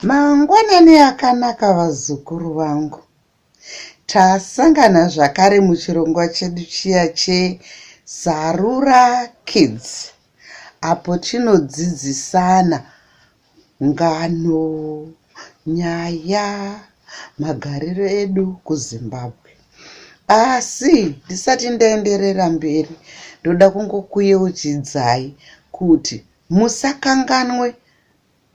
Mangwanani akanaka vazukuru vangu. Tasangana zvakare muchirongwa chedu chiya cheZarura Kids apo tinodzidzisana Ngano, nyaya, magariro edu kuZimbabwe. Asi ndisati ndaenderera mberi, ndoda kungokuyeuchidzai kuti musakanganwe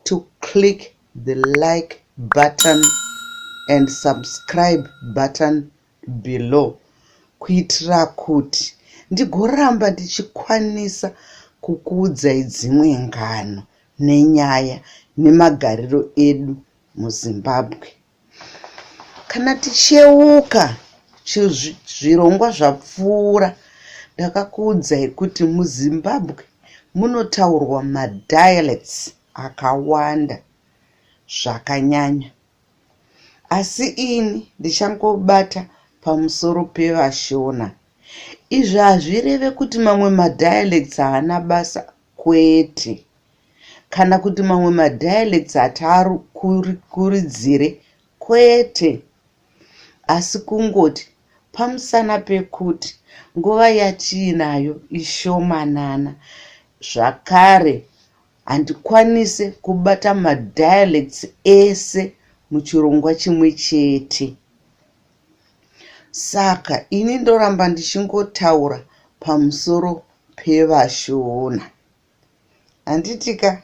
to click the like button and subscribe button below kuitira kuti ndigoramba ndichikwanisa kukuudzai dzimwe ngano nenyaya nemagariro edu muzimbabwe kana ticheuka zvirongwa zvapfuura ndakakuudzai kuti muzimbabwe munotaurwa madialects akawanda zvakanyanya asi ini ndichangobata pamusoro pevashona izvi hazvireve kuti mamwe madialects haana basa kwete kana kuti mamwe madialects hataarikuridzire kwete asi kungoti pamusana pekuti nguva yatiinayo ishomanana zvakare Handikwanise kubata madialects ese muchirongwa chimwe chete. Saka ini ndoramba ndichingotaura pamusoro pevashona. Handitika?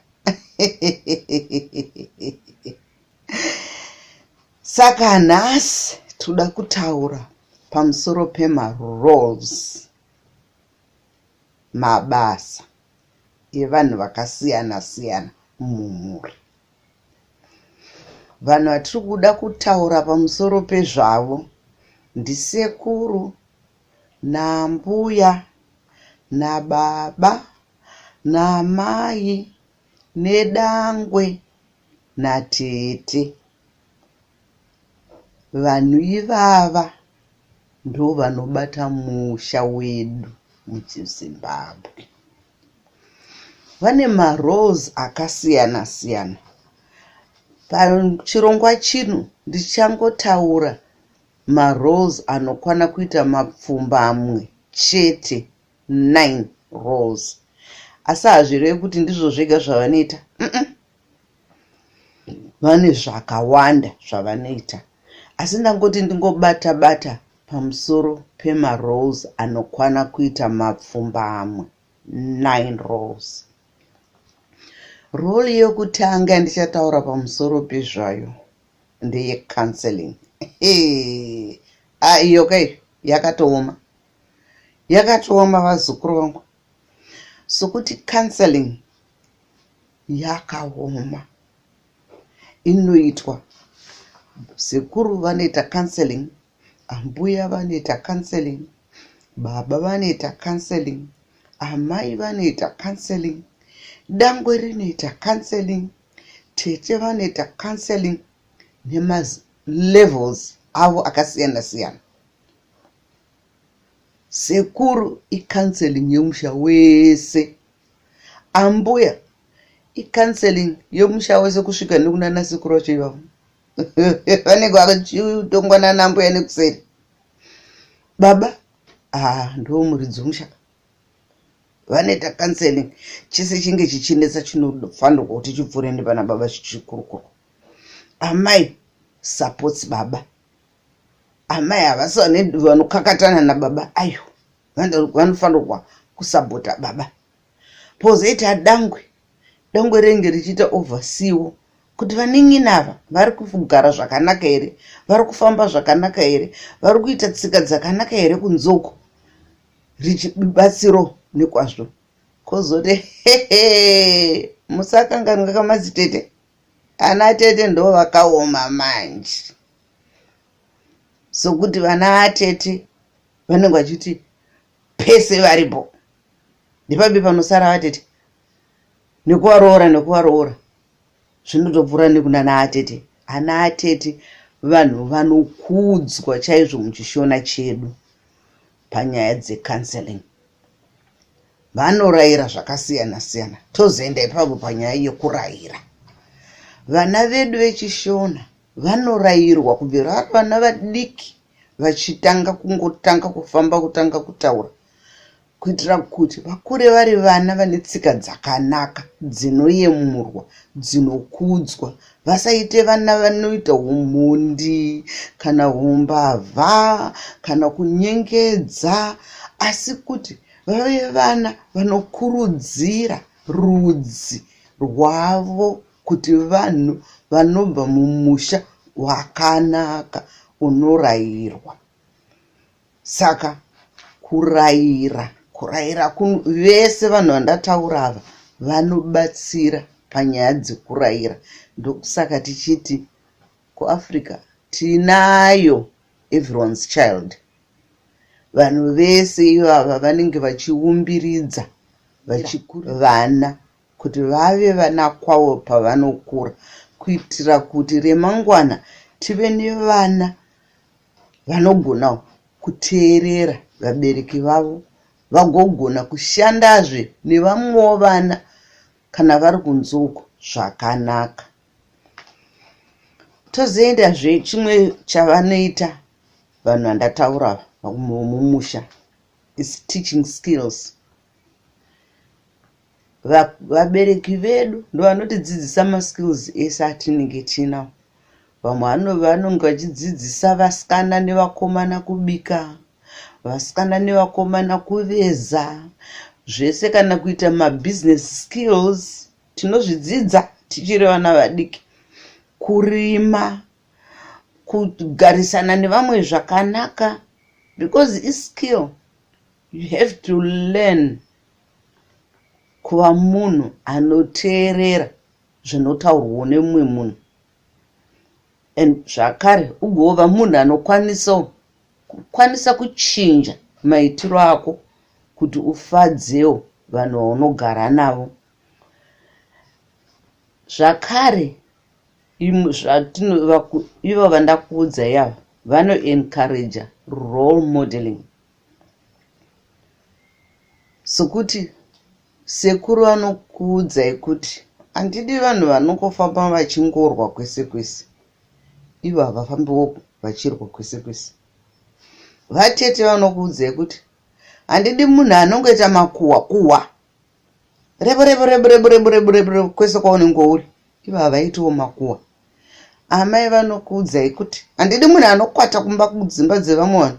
Saka nhasi toda kutaura pamusoro pemaroles mabasa. yevanhu vakasiyana siyana mumhuri. Vanhu vatiri kuda kutaura pamusoro pezvavo ndisekuru nambuya nababa namai nedangwe natete. Vanhu ivava ndovanobata musha wedu muzimbabwe. Vane maroles akasiyana siyana. Pachirongwa chino ndichangotaura maroles anokwana kuita mapfumbamwe chete 9 roles. Asi hazvirevi kuti ndizvo zvega zvavanoita. Mm -mm. vane zvakawanda zvavanoita asi ndangoti ndingobata bata pamusoro pemarolls anokwana kuita mapfumbamwe 9 rolls rol yokutanga yandichataura pamusoro pezvayo ndeyecounseling ah, iyo kai yakatooma yakatooma vazukuru vangu sokuti counseling yakaoma inoitwa sekuru vanoita counseling ambuya vanoita counseling baba vanoita counseling amai vanoita counseling dangwe rinoita counseling tete vanoita counseling nemalevels avo akasiyana siyana sekuru icounseling yemusha wese Ambuya icounseling yomusha wese kusvika nekunana sekuru vacho ivavo vanenge vachitongwa nana mbuya nekuseri baba haa ah, ndiwo muridzi womusha vanoita counseling chese chinge chichinetsa chinofanirwa kuti chipfuure nepana baba chichikurukuru amai supports baba amai havasi vanokakatana nababa ayo vanofanirwa kusabota baba pozoita dangwe dangwe renge richiita overseewo kuti vaning'ina ava vari kugara zvakanaka here vari kufamba zvakanaka here vari kuita tsika dzakanaka here kunzoko richibatsiro nekwazvo kozoti hehe musakanganwa kamadzitete ana tete ndo vakaoma manje sokuti vana vatete vanenge vachiti pese varipo ndipapi panosara vatete nekuvaroora nekuvaroora zvinotopfuura nekunana atete ana atete vanhu vanokudzwa chaizvo muchishona chedu panyaya dzecounseling vanorayira zvakasiyana siyana tozoenda ipapo panyaya yekurayira vana vedu vechishona vanorayirwa kubva vari vana vadiki vachitanga kungotanga kufamba kutanga kutaura kuitira kuti vakure vari vana vane tsika dzakanaka dzinoyemurwa dzinokudzwa vasaite vana vanoita umhondi kana umbavha kana kunyengedza asi kuti vave vana vanokurudzira rudzi rwavo kuti vanhu vanobva mumusha wakanaka unorayirwa saka kurayira kurayira vese vanhu vandataura ava vanobatsira panyaya dzekurayira ndokusaka tichiti kuafrica tinayo everyone's child vanhu vese ivava vanenge vachiumbiridza vachikura vana kuti vave vana kwavo pavanokura kuitira kuti remangwana tive nevana vanogona kuteerera vabereki vavo vagogona kushandazve nevamwewo vana kana vari kunze uko zvakanaka tozoendazve chimwe chavanoita vanhu vandataura mumusha is teaching skills vabereki vedu ndovanotidzidzisa maskills ese atinenge tinawo vamwe vanonge vachidzidzisa vasikana nevakomana kubika vasikana nevakomana kuveza zvese kana kuita mabusiness skills tinozvidzidza tichiri vana vadiki kurima kugarisana nevamwe zvakanaka because iskill you have to learn Kuva munhu anoteerera zvinotaurwawo nemumwe munhu and zvakare ugova munhu anokwanisawo kukwanisa kuchinja maitiro ako kuti ufadzewo vanhu vaunogara navo zvakare zvatinovaivo vandakuudza yavo vanoencouraja role modeling sokuti sekuru anokuudzai kuti handidi vanhu vanongofamba vachingorwa kwese kwese ivo havafambiwo vachirwa kwese kwese vatete vanokuudzai kuti handidi munhu anongoita makuhwa kuhwa rebu rebu rebu rebu rebu rebu rebu rebu kwese kwaunenge uri ivo havaitiwo makuwa amai vanokuudzai kuti handidi munhu anokwata kumba kudzimba dzevamwe vanhu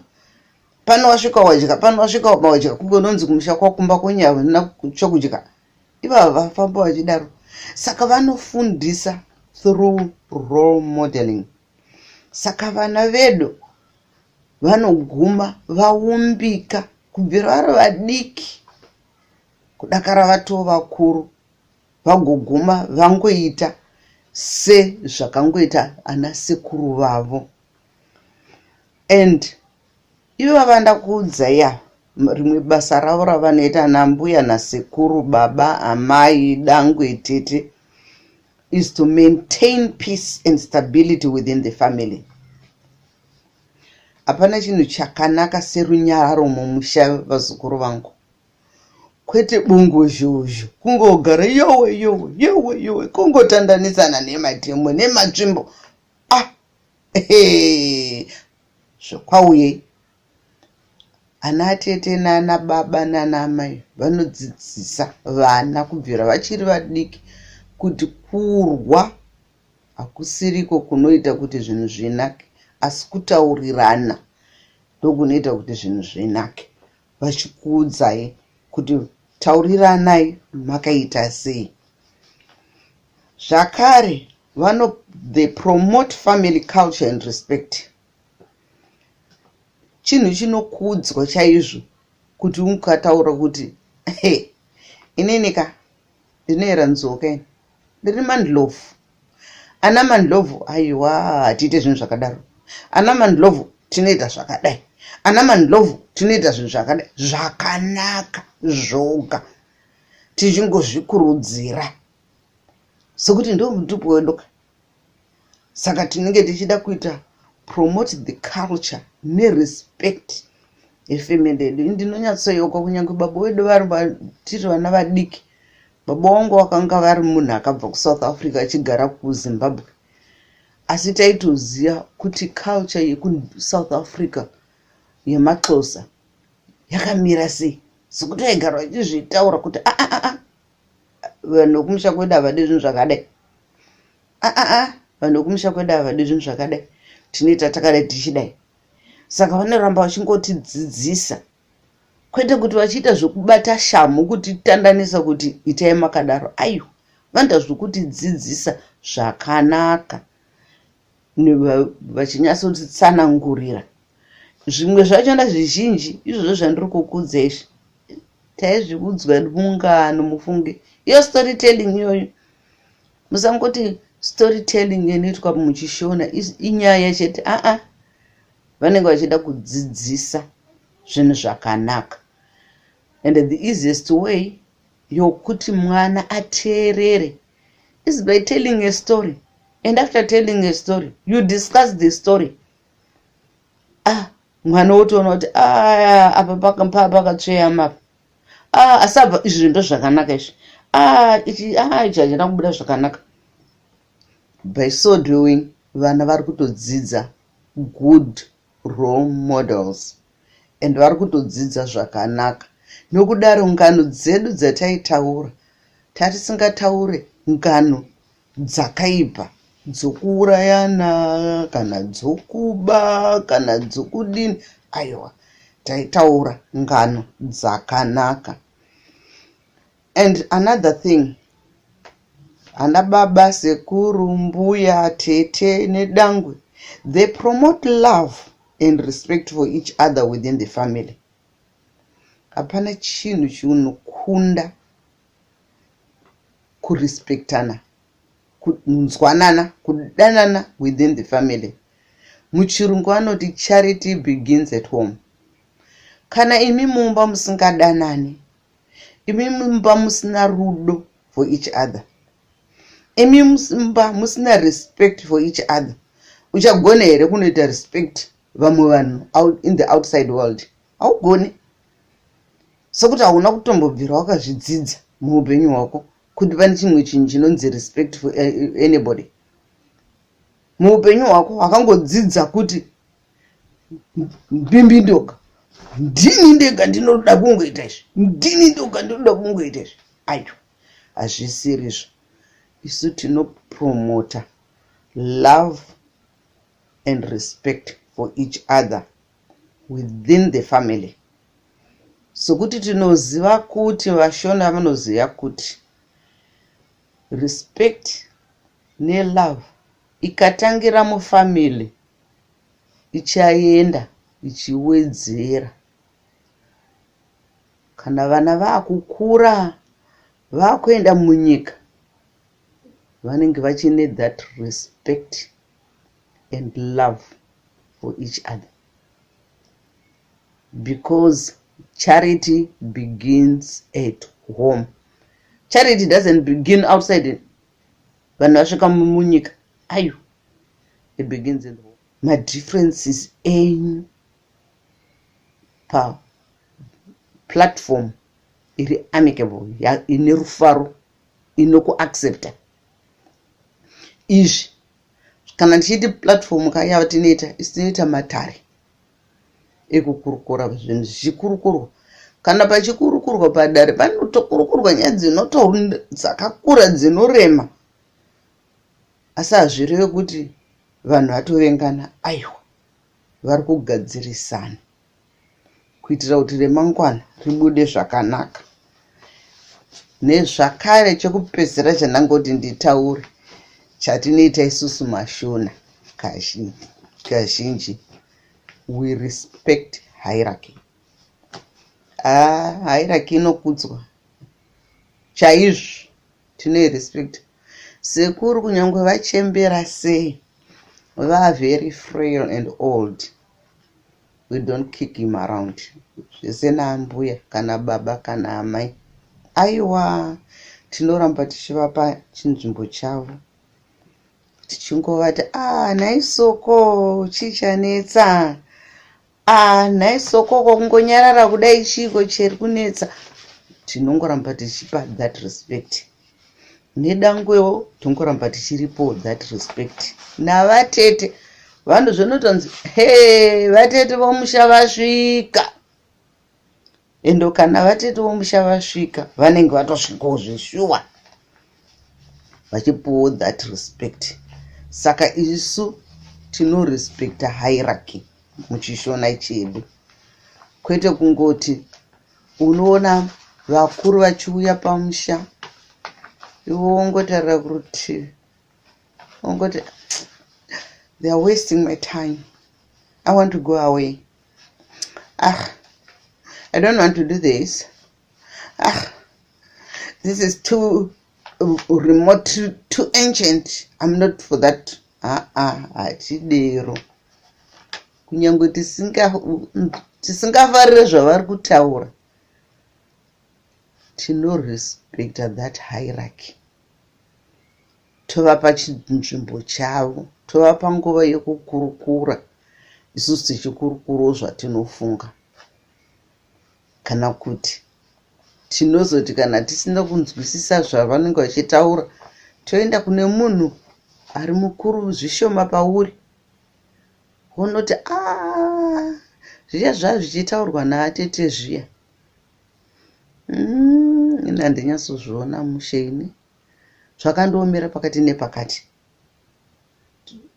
pano wasvika wadya pano wasvika waba wadya kunge unonzi kumusha kwakumba kwenyaya ina chokudya ivavo vafamba vachidaro saka vanofundisa through role modeling saka vana vedu vanoguma vaumbika kubvira vari vadiki kudakara vatoo vakuru vagoguma vangoita sezvakangoita ana sekuru vavo and ivo vava ndakuudza ya rimwe basa ravo ravanoita ana mbuya nasekuru baba amai dangwe tete is to maintain peace and stability within the family Hapana chinhu chakanaka serunyararo mumusha vazukuru vangu. Kwete bungu zhuzhu kungogara yowe yowe yowe yowe kungotandanisana nemademo nematsvimbo ah zvokwauye ana tete nana baba nana amai vanodzidzisa vana kubvira vachiri vadiki kuti kurwa Hakusiriko kunoita kuti zvinhu zvinake asi kutaurirana ndokunoita kuti zvinhu zvinake. Vachikuudzai kuti tauriranai makaita sei. Zvakare vano they promote family culture and respect chinhu chinokudzwa chaizvo kuti ukataura kuti hey, inini ka ndinoera nzoka ini ndiri mandlovu ana mandlovu aiwa hatiite zvinhu zvakadaro ana mandlovu tinoita zvakadai ana mandlovu tinoita zvinhu zvakadai zvakanaka zvoga tichingozvikurudzira sokuti ndo mutupo wedoka saka tinenge tichida kuita promote the culture nerespect yefamily yedu ndinonyatsoyeuka kunyange baba wedu vari vatiri vana vadiki baba wangu vakanga vari munhu akabva kusouth africa achigara kuzimbabwe asi taitoziva kuti culture yekusouth africa yemaxosa yakamira sei sokuti vaigara vachizvitaura kuti aa ah, ah, ah, vanhu vekumusha kwedu havadi zvinhu zvakadai aa vanhu vekumusha kwedu havadi zvinhu zvakadai tinoita takada tichidai saka vanoramba vachingotidzidzisa kwete kuti vachiita zvekubata shamhu kutitandanisa kuti itai makadaro aiwa vanoita zvekutidzidzisa zvakanaka vachinyatsotsanangurira zvimwe zvachona zvizhinji izvozvo zvandiri kukudza izvi taizviudzwa mungano mufunge iyo story telling iyoyo musangoti story telling inoitwa muchishona inyaya chete aa vanenge vachida kudzidzisa zvinhu zvakanaka and the easiest way yokuti mwana ateerere is by telling a story and after telling a story you discuss the story ah mwana wotoona kuti ah, apa pakatsveyama apa ah, asi apa izvi ndo zvakanaka izvi ah, ichi ah, ichi hachina kubuda zvakanaka by so doing vana vari kutodzidza good role models and vari kutodzidza zvakanaka nokudaro ngano dzedu dzataitaura tatisingataure ngano dzakaipa dzokuurayana kana dzokuba kana dzokudini aiwa taitaura ngano dzakanaka And another thing ana baba sekuru mbuya tete nedangwe they promote love and respect for each other within the family hapana chinhu chinokunda kurespectana kunzwanana kudanana within the family muchirungu anoti charity begins at home kana imi mumba musingadanani imi mumba musina rudo for each other imi mumba musina respect for each other uchagona here kunoita respect vamwe vanhu in the outside world haugoni sokuti hauna kutombobvira wakazvidzidza muupenyu hwako kuti pane chimwe chinhu chinonzi respect for eh, anybody muupenyu hwako hakangodzidza kuti mbimbi ndoga ndini ndega ndinoda kungoita izvi ndini ndoga ndinoda kungoita izvi ayo hazvisirizvo isu tinopromota love and respect for each other within the family sokuti tinoziva kuti vashona vanoziva kuti respect nelove Ikatangira mufamily ichaenda ichiwedzera kana vana vakukura vakuenda munyika vanenge vachine that respect and love for each other because charity begins at home charity doesn't begin outside vanhu vasvika munyika ayo ebegins and war madifferences enyu paplatform iri amicable ine rufaro inokuaccepta izvi kana ndichiiti platform ka yava tinoita isi tinoita matare ekukurukura zvinhu zvichikurukurwa kana pachikurukurwa padare panotokurukurwa nyaya dzinoto dzakakura dzinorema asi hazvireve kuti vanhu vatovengana aiwa vari kugadzirisana kuitira kuti remangwana ribude zvakanaka nezvakare chekupedzisira chandangoti nditaure chatinoita isusu mashona kazhinji we respect hierarchy ah, hierarchy inokudzwa chaizvo tinoirespect sekuru kunyange vachembera sei vaa very frail and old we don't kick him around zvese naambuya kana baba kana amai aiwa tinoramba tichivapa chinzvimbo chavo tichingovati a ah, nhai soko chii chanetsa a ah, nhai soko kwakungonyarara kudai chiiko chiri kunetsa tinongoramba tichipa that respect nedangwewo tongoramba tichiripo that respect navatete vanhu zvinotonzi he vatete vomusha vasvika endo kana vatete vomusha vasvika vanenge vatosvikawo zveshuwa vachipuwo that respect saka isu tinorespecta hierarchy muchishona chedu kwete kungoti unoona vakuru vachiuya pamusha ivo wongotarira kurutivi wongoti they are wasting my time i want to go away ah i don't want to do this ah this is too remote too, too ancient i'm not for that aa ah, ah, hatidero ah, kunyangwe tisingafarire zvavari kutaura tinorespecta that hierarchy tovapa chinzvimbo chavo tovapa nguva yekukurukura isusu tichikurukurawo zvatinofunga kana kuti tinozoti kana tisina kunzwisisa zvavanenge vachitaura toenda kune munhu ari mukuru zvishoma pauri Unoti aah zviya zvaa zvichitaurwa naatete zviya mm, ini handinyatsozviona mushe ini zvakandiomera pakati nepakati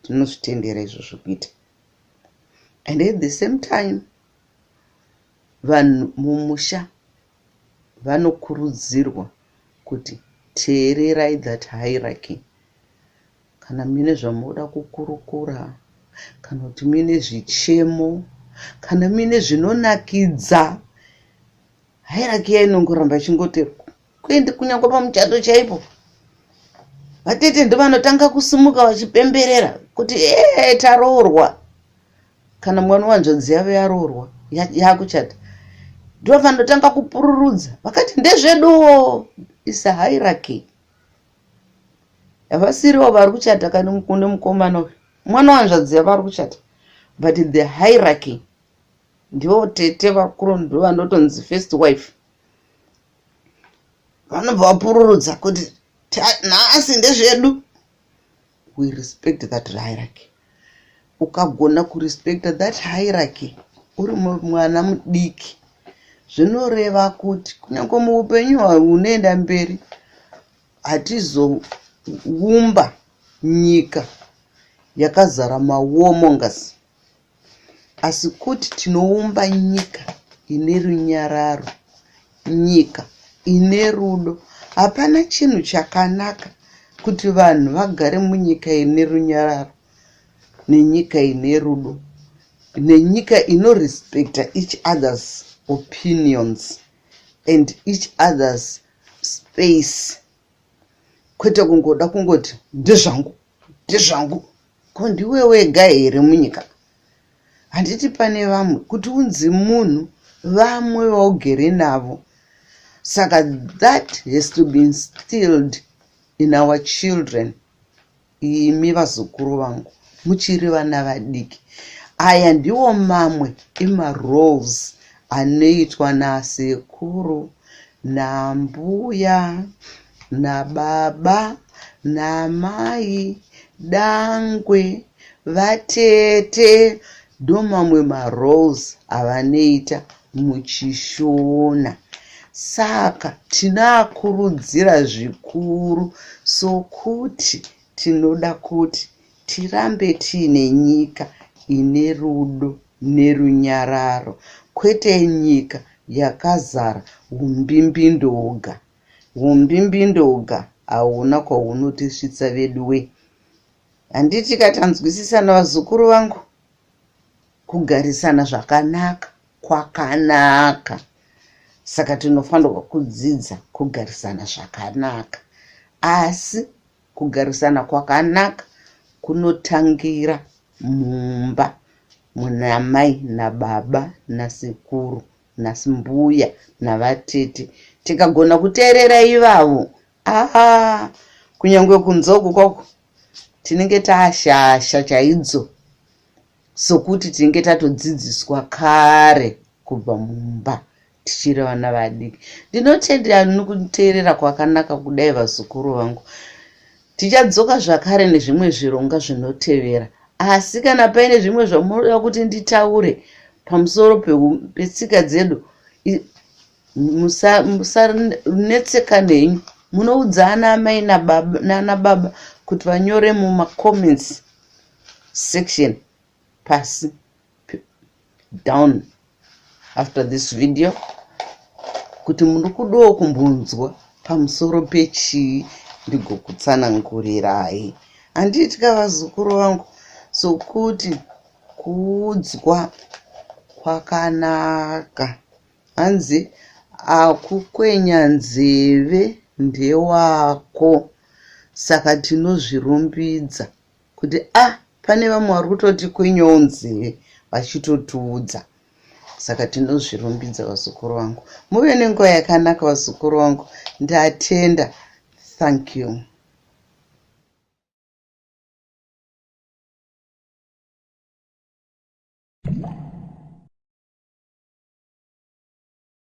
tinozvitendera izvo zvekuita and at the same time vanhu mumusha vanokurudzirwa kuti teererai that hierarchy Kana muine zvamunoda kukurukura, kana kuti muine zvichemo, kana muine zvinonakidza, hairaki yainongoramba ichingoti kuende kunyangwa pamuchato chaipo vatete ndovanotanga kusumuka vachipemberera kuti ee taroorwa kana mwana wanzvadzi yavo yaroorwa yakuchata ndovanotanga kupururudza vakati ndezveduwo isa hairaki havasiriwo vari kuchata kani mukunde mukomana uyu mwana wanzvadzi yavo ari kuchata but the hierarchy ndivo tete vakuru ndo vanotonzi first wife vanobva vapururudza kuti nhasi ndezvedu we respect that hierarchy ukagona kurespecta that hierarchy uri mwana mudiki zvinoreva kuti kunyange muupenyu hunoenda mberi hatizoumba nyika yakazara mawomongas asi kuti tinoumba nyika ine runyararo nyika ine rudo hapana chinhu chakanaka kuti vanhu vagare munyika ine runyararo nenyika ine rudo nenyika inorespecta each others opinions and each others space kwete kungoda kungoti ndezvangu ndezvangu Ko ndiwe wega here munyika? Handiti pane vamwe kuti unzi munhu vamwe vaugere navo. Saka that has to be instilled in our children. Imi vazukuru vangu muchiri vana vadiki. Aya ndiwo mamwe emaroles anoitwa nasekuru nambuya nababa namai dangwe vatete ndomamwe maroles avanoita muchishona saka tinoakurudzira zvikuru sokuti tinoda kuti tirambe tiine nyika ine rudo nerunyararo kwete nyika yakazara umbimbi ndoga Humbimbindoga hauna kwahunotisvitsa veduwe. Handiti katanzwisisana vazukuru vangu? Kugarisana zvakanaka kwakanaka. Saka tinofanirwa kudzidza kugarisana zvakanaka. Asi kugarisana kwakanaka kunotangira mumba muna mai nababa nasekuru nhasi mbuya navatete tikagona kuteerera ivavo aa kunyange kunzoku kwako tinenge taashasha chaidzo sokuti tinenge tatodzidziswa kare kubva mumba tichiri vana vadiki ndinotendera nokuteerera kwakanaka kudai vazukuru vangu Tichadzoka zvakare nezvimwe zvirongwa zvinotevera, asi kana paine zvimwe zvamunoda kuti nditaure pamusoro petsika dzedu musanetsekane henyu munoudza ana amai nana baba kuti vanyore mumacomments section pasi down after this video kuti muri kudawo kumbonzwa pamusoro pechii ndigokutsanangurirai handiitika vazukuru vangu sokuti kuudzwa kwakanaka hanzi akukwenya nzeve ndewako saka tinozvirumbidza kuti a ah, pane vamwe vari kutoti kwinyowo nzeve vachitotiudza saka tinozvirumbidza vazukuru vangu muve nenguva yakanaka vazukuru vangu ndatenda thank you